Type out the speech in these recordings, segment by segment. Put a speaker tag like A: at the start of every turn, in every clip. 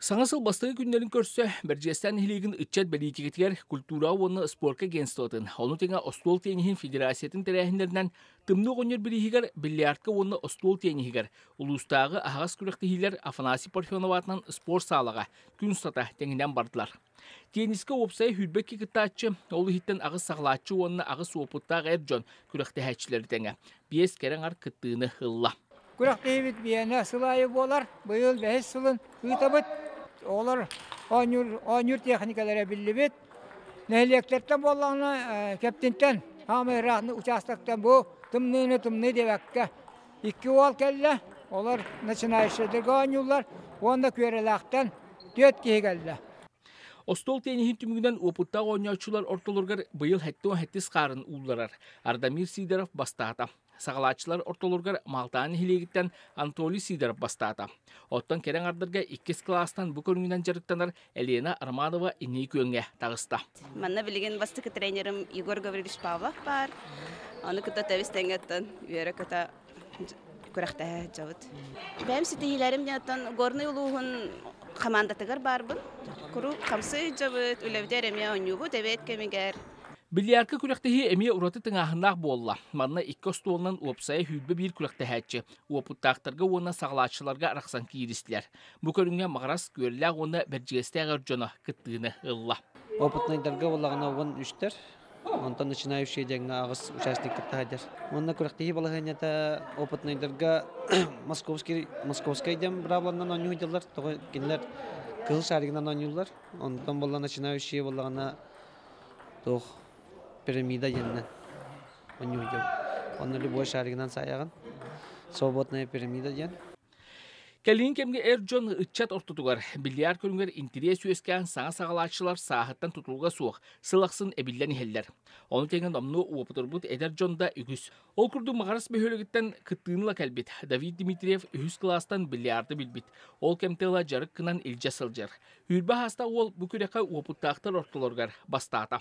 A: Саҥа сыл бастакы күннэрин көрсө Бэрдьиэстээн нэһилиэгин ыччат бэлиитикэтигэр культураҕа уонна спорка агентствотын, ону тэҥэ остуол тенниһин федерациятын тэрээһиннэринэн Тымныы оҕонньор бирииһигэр бильярдка уонна остуол тенниһигэр, улуустааҕы аһаҕас күрэхтэһиилэр Афанасий Парфенов аатынан спорт саалаҕа күн устата тэҥинэн бардылар. Теннискэ уопсайа сүүрбэкки кыттааччы, ол иһиттэн аҕыс саҕалааччы уонна аҕыс уопуттаах эр дьон күрэхтэһээччилэри тэҥэ биэс кэрэ аҥар кыттыыны ылла. Күрэхтэһиибит
B: биэнэ сыл аайы буолар. Быйыл бэһис сылын ыытабыт. Оҕолор оонньуур, оонньуур тиэхиникэлэрэ биллибит. Нэһилиэктэртэн буоллаҕына, Кэптинтэн, хаамай ыраахтан учаастактан бу тымныыны тымныы диэбэккэ Икки уол кэллэ, олор начинающайдарга оонньууллар уонна Күөрэлээхтэн түөрт киһи кэллэ. Остуол
A: тенниһин түмүгүнэн уопуттаах оонньооччулар ортолоругар быйыл хэттис хаарын уулларар. Ардамир Сидоров бастаата. Саҕалааччылар ортолоругар Малтаан нэһилиэгиттэн Антоний Сидоров бастаата. Оттон кэрэ ардырга иккис кылаастан бу көрүҥүнэн дьарыктанар Елена Арманова инии күөҥҥэ таҕыста. Манна билигин
C: бастакы тренерим Егор Гаврилович Павлов баар. Ону кытта тэбис тэҥэттэн үөрэ-көтө күрэхтэһэ сылдьабыт. Бэйэм ситиһиилэрим диэниттэн Горнай улууһун хамаандатыгар баарбын. Куруук хамсыы сылдьабыт, үлэбитигэр эмиэ оонньуубут эбээт кэмигэр. Бильярдка
A: күрэхтэһии эмиэ ураты тыҥааһыннаах буолла. Манна икки остуолунан уопсайа сүүрбэ биир күрэхтэһээччи, уопуттаахтарга уонна саҕалааччыларга арахсан кииристилэр. Бу көрүҥҥэ Маҕарас күөллээх уонна Бэрдьигэстээх эр дьоно кыттыыны ылла. Опытнайдарга
D: буоллаҕына уон үстэр онтон начинающие диэҥҥэ аҕыс участник кытта хайдар уонна күрэхтиһии балаһыанньата опытнайдарга московский московскай диэн брабланнан оонньуһудалар тоҕо кинилэр кыһыл шаригынан оонньууллар онтон болла начинающие буоллаҕына туох пирамида диэннэн оонньуһудабыт онно любой шаригынан саайаҕын свободная пирамида диэн Кэлин
A: кэмгэ эр дьон ыччат ортотугар бильярд көрүнгэр интириэс үөскээн саҥа саҕалааччылар сааһыттан тутулуга суох сыл ахсын эбиллэн иһэллэр. Ону тэҥэ номнуо уопутурбут эдэр дьон да үгүс. Ол курдук Маҕарас бөһүөлэгиттэн кыттыынла кэлбит Давид Дмитриев үһүс кылаастан бильярды билбит. Ол кэмтэ ыла дьарык гынан илдьэ сылдьар. Үүрбэ ааста уол бу күрэххэ уопуттаахтар ортолоругар бастаата.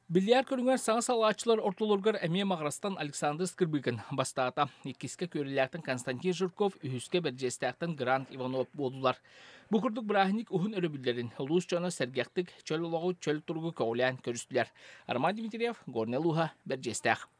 E: Бильярд көрүҥэр
A: саҥа салааччылар ортолоругар эмиэ маҕарастан Александр Скрыбыкин бастаата. Иккискэ күөрүлээхтэн Константин Жирков, үһүскэ Бэрдьиэстээхтэн Грант Иванов буоллулар. Бу курдук бырааһынньык уһун өрөбүллэрин улуус дьоно сэргэхтик, чөл олоҕу, чөл туругу көҕүлээн көрүстүлэр. Арман Дмитриев, Горнай Лууһа, Бэрдьиэстээх.